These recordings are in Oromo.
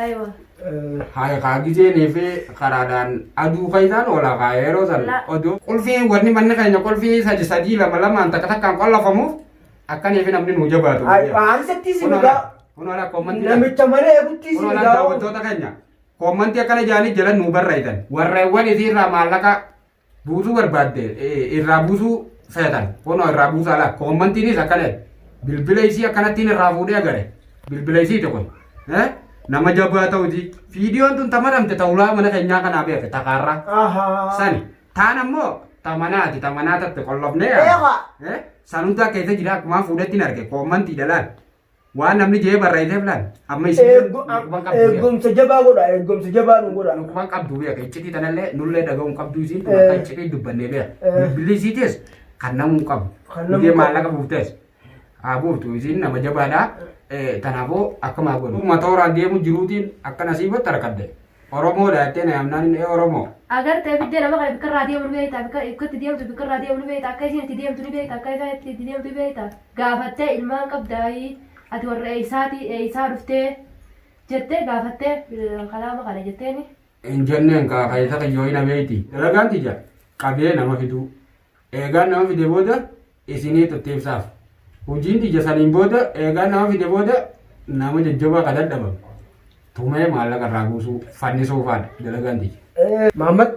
Aywa. Haaya kaa gijeenii fi karaadhaan aduu keessaan oola kaa yeroo san La- oduu. Qulfii wanni manni keenya qulfii sadi sadii lama lamaan takka takkaan qollafamuuf akkanii fi namni nuu jabaatu. Aansattii si migaa. Kun ala koommantii. Namicha mana eeguttii si Kun ala migaa. daawwattoota keenya. Koommantii akkana jaanii jala nuu barreessan. Warreewwan isiirraa maallaqa buusuu barbaadde eh, irraa buusuu feetan kunoo irraa buusaa laa koommantiinis akkana jedhe. bilbila isii akkanattiin irraa fuudhee agare bilbila isii tokko eh, nama jabaa ta'uti viidiyoon tun tamadhamte ta'ulaa mana keenyaa kanaa beeke takaarraa Ahaa. sani taan ammoo tamanaati tamanaa tatte qollofnee Eewa. eh, san hundaa keessa jira akkumaan fuudhettiin arge koommantii dhalaan Waan namni jee barreessee laal. Amma isin Eeggo- dhukkuban qabdu beeka. eeggomsa jabaa godha eeggomsa jabaa nu godha Dhukkuban qabdu beeka. Iccitii tanallee nullee dhaga'uun qabdu isiin Eh. akka iccitii dubbannee beeka. Eh. Bilbilli isiitis kan namuu hin qabu. Kan namuu Biyya qabu. maallaqa buuftees. Haa buuftu isiin nama jabaadha. Eh, Kanaafuu akkuma godhu. Dhuma tooraan deemu jiruutiin akka nasiibatti harkadde. Oromoo dha jettee na yaamnaan inni ee Oromoo. Agartee fiddee nama kana bikka irraa deemu ni beekta bikka bikka itti deemtu bikka irraa deemu ni beekta akka isiin itti deemtu ni beekta akka isaa itti itti deemtu ni beekta gaafattee ilmaan qabdaayii ati warra eeysaati eeysaa dhuftee jettee gaafattee eh, kalaama kana jetteeni. Hin jenneen kaa keessa kiyyoo hin abeeyti. Dalagaan tiyya qabee nama fiduu. Eegaan nama fide booda isiniitu itti ibsaaf. Hojiin tiyya saniin booda eegaan nama fide booda nama jajjabaa ka dadhabame tumee maallaqa irraa buusuu fannisuu faadha dalagaan tiyya. Eh, Maammad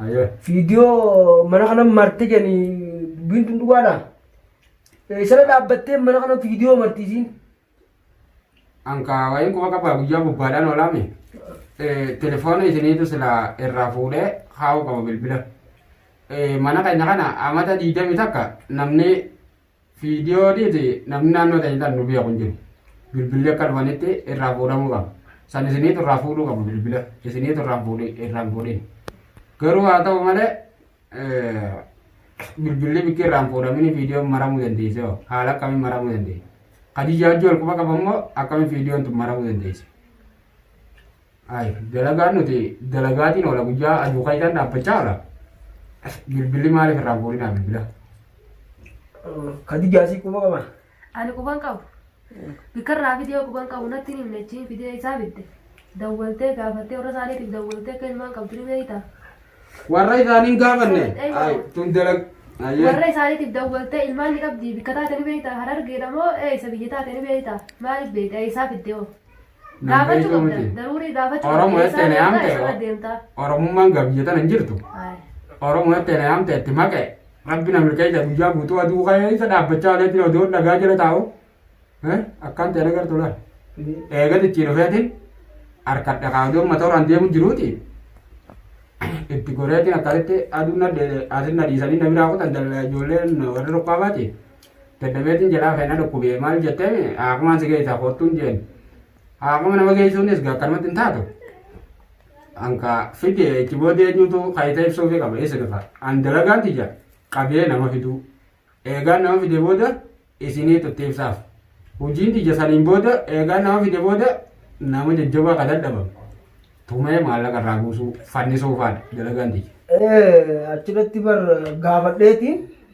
Ayyoo. viidiyoo mana kana marte jedhani dubbiin tun dhugaadha. Eh, Sana dhaabbattee mana kana viidiyoo martiisiin. Ankaa wayiin quba qabaa guyyaa bobbaadhaan oolaame telefoona isiniitu sila irraa fuudhee kaa'uu qaba bilbila. Mana keenya kana amata diidami takka namni viidiyoo dhiiti namni naannoo ta'e kan nu biyya kun jiru. Bilbilli akka dhufanitti irraa fuudhamuu qaba. San isiniitu irraa fuudhuu qaba bilbila. Isiniitu irraa fuudhee irraa fuudhee. Garuu haa ta'u malee Bilbilli bikkii irraan fuudhamini viidiyoon maramuu dandeesse hoo haala akkamiin maramuu dandeesse? Khadijaa wajjin wal quba qaban moo akkamiin viidiyoon tun maramuu dandeesse? Ayi dalagaan nuti dalagaatiin oola guyyaa aduu kaayidaan dhaabbachaa oola. Bilbilli maaliif irraan fuudhinaa bilbila? Kadijaa si quba qaba. Ani quban qabu. Bikkarraa fidee quban qabu natti hin himne achiin fidee isaa fidde. Dawwaltee gaafattee warra isaaniitiif dawwaltee akka ilmaan qabdu ni beektaa? Warra isaanii hin gaafanne. Ay, tun dalag. Ayyee. Warra isaaniitiif dawwaltee ilmaan ni qabdi. Bikka taate ni beektaa? Harargeedha moo eessa biyya taate ni beektaa? Maaliif beektaa? Eessaa fiddee hoo? Gaafachuu Nagaytuu qabda. miti. Daruurii gaafachuu Oromoo qabda. jettee na Eessaa yaamte eessarra deemtaa? Oromummaan gabiyya tana hin jirtu. Ayi. Oromoo jettee na yaamte itti maqe. Rabbi na milkeessa guyyaa guutuu aduu keessa dhaabbachaa olee jira odoo dhagaa jala taa'u. Eh, Akkaan ta'e nagar tola. Eega tichii dhufeetiin harkadha kaa odoo uummata horaan deemu jiruuti. Itti goreetiin akkasitti aduu na dheedhe asin na dhiisanii na biraa kutan dal- ijoolleen warri roqqaa baati. Dadhabeetiin jalaa ka'e na dhukkubee maal jettee haaqumaan si geessaa koottuun jeen. Haaquma nama geessuunis akkanumatti hin taatu. Anka fide itti booda eenyutu kaayita ibsuufi qaba isa dhufa. An dalagaan tiyya qabee nama fiduu. Eegaan nama fide booda isinii tutti ibsaaf. Hojiin tiyya saniin booda eegaan nama fide booda nama jajjabaa ka dadhabamu. Tumee maallaqa irraa buusuu fannisuu faadha dalagaan tiyya. Ee achirratti bar gaafadheetiin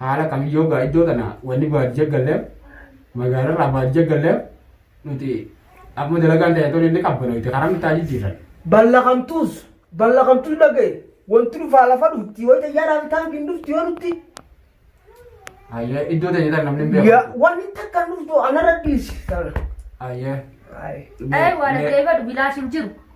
Haala kamiin yoo gaa iddoo tana wanni baadiyya galleef magaalarraa baadiyya galleef nuti akkuma dalagaan ta'e tolee ni qabbanoyte karaa nutti haa jijjiirran. Ballakamtuus ballakamtuu dhagaye wanti dhufaa lafa dhufti wayita yaadaan taankiin dhufti yoo dhufti Ayyee iddoo ta'e tan namni hin beeku. ya- wanni takka dhuftu anarra dhiisi. Ayyee. Ay. Ee waan ajaa'iba bilaa hin jiru.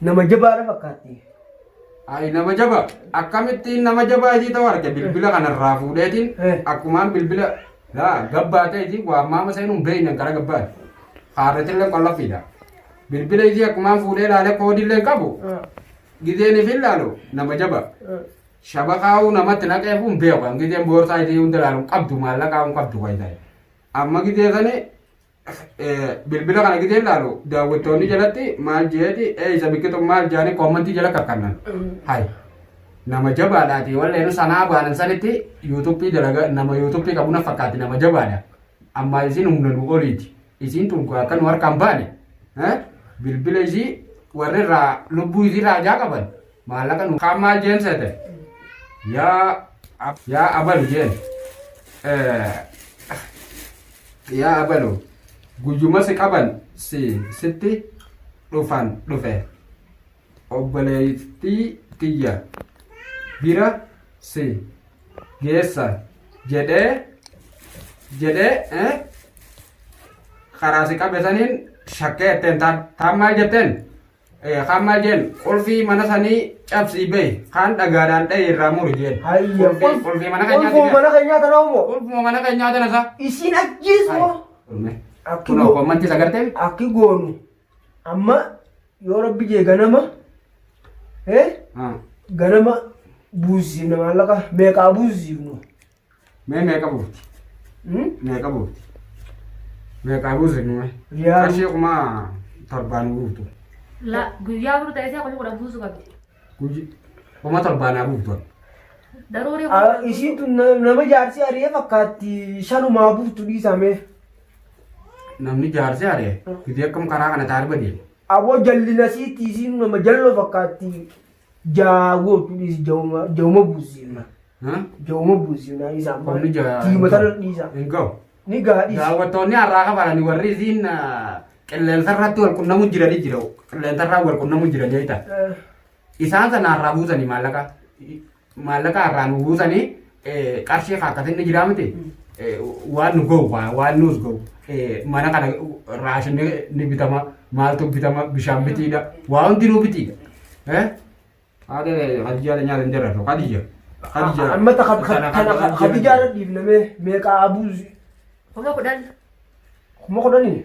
Nama jabaadha fakkaatti. Ayi nama jaba akkamittiin nama jabaa isii ta'u arge bilbila kanarraa fuudheetiin Eh. akkumaan bilbila laa gabbaa ta'e isii waammaama seenuun beeynan gara gabbaa haarretillee qollafiidha. Bilbila isii akkumaan fuudhee laalee koodiillee hin qabu gizeen ifi laalu nama jaba shabakaa'uu namatti naqee kun beeku kan gizeen boorsaa isii hunda laalu hin qabdu maallaqaa hin qabdu kan ta'e. Amma gizee sanii bilbila kana gidee ilaalu daawwattoonni jalatti maal jeeti eeysa biqiltu maal jaanii koomantii jala kakkannan. Hay nama jabaadhaati walleen sanaa baanan sanitti yuutuuppii dalaga nama yuutuuppii qabu na fakkaatti nama jabaadha. Ammaa isiin humna nu oliiti. Isiin tun akka nu harkaan baane bilbila isii warri irraa lubbuu isii irraa ajaa qaban Maallaqa nu kaan maal jeen seete? Yaa ab- yaa abalu jeen. Eh, Yaa abalu guyyuma si qaban si sitti dhufan dhufe. Obboleettii tiyya bira si geessa jedhee jedhee eh, karaa si qabe saniin shakkee jetteen taan taan maal jetteen? Kaan maal jeen qulfii mana sanii cabsii bahi kaan dhagaadhaan dhahi irraa muri jeen. Hayya. Qulfii qulfii mana keenyaa Qulfuma mana keenyaa tanaa umoo. qulfuma mana keenyaa tana isaa. Isiin ajjeesu moo. Akki Kunoo goo- kommantii isa gartee akki goonu. Amma yoo rabbi jee ganama. Hee ganama buusisiifna maallaqa meeqaa buusisiifnu. Mee meeqa buufti? Hmm? Meeqa buufti? Meeqaa buusin mee? Riyaal. Qarshii kuma torbaan buuftu. La guyyaa bulu ta'ee kuma kudhan buusu qabdi. Guyyi kuma torbaanaa buuftu. Daruurii Ah, kudhan. Isiin tun na- nama jaarsi ari'ee fakkaatti shanumaa buuftu dhiisamee. Namni jaarsi aree gidee akkam karaa kana taa'ee badee. Aboo jallina siitti isiin nama jalloo fakkaatti Jaawoo tu dhiisi jawuma jawuma buusiifna. Jawuma buusiifna isa amma. Qonni jaa- Tiima tana dhiisa. Hin ga'u. Ni gaa dhiisa. Daawwattoonni har'aa kafalan warri isiin qilleensa irratti wal qunnamuu jiranii jira. Qilleensa irraa wal qunnamuu jiranii jechuudha. Eh, Isaan sana har'aa buusanii maallaqa. Maallaqa har'aa nu buusanii qarshii kaakkatinni jiraa miti waan nu gahu waan nuus gahu mana kana raashinni ni bitama maaltu bitama bishaan bitiidha waa hundi nuu bitiidha. Haadha Khadijaa nyaata hin jirratu Khadija. Amma Khadijaa irra dhiifnamee meeqa abuuzi. Kuma kudhan. Kuma kudhanii.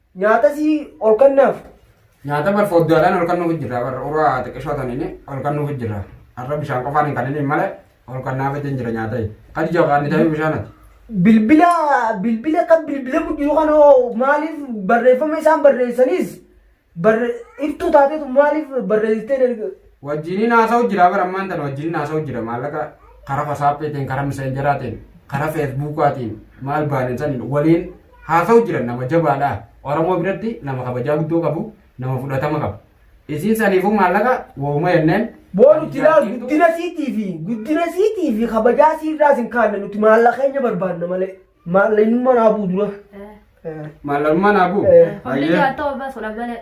Nyaata sii ol kannaaf. Nyaata bar fodduu alaan ol kannuuf jirra bar uraa xiqqishoo tanini ol kannuuf jirra. Har'a bishaan qofaan hin kanini malee ol kannaaf ittiin jira nyaata. Kan jabaan ni ta'e bishaan ati. Bilbila bilbila akka bilbilamu jiru kana hoo maaliif barreeffama isaan barreessanis barre iftuu taatetu maaliif barreessitee darbe. Wajjiniin haasa'u jira bar ammaan tan wajjiniin haasa'u jira maallaqa karaa wasaappiitiin karaa miseenjaraatiin karaa feesbuukaatiin maal baanee san waliin Haa ta'u jiran nama jabaadha. Oromoo biratti nama kabajaa guddoo qabu, nama fudhatama qabu. Isiin saniifuu maallaqa wooma jenneen. Boo nuti laal guddina siitii fi guddina siitii fi kabajaa siirraa sin kaanne nuti maallaqa keenya barbaanna malee. Maallaqa inni mana abuu dura. Maallaqummaa naa bu'u. Eh. Hundi Hayyee. jaaltoo baasuudha malee.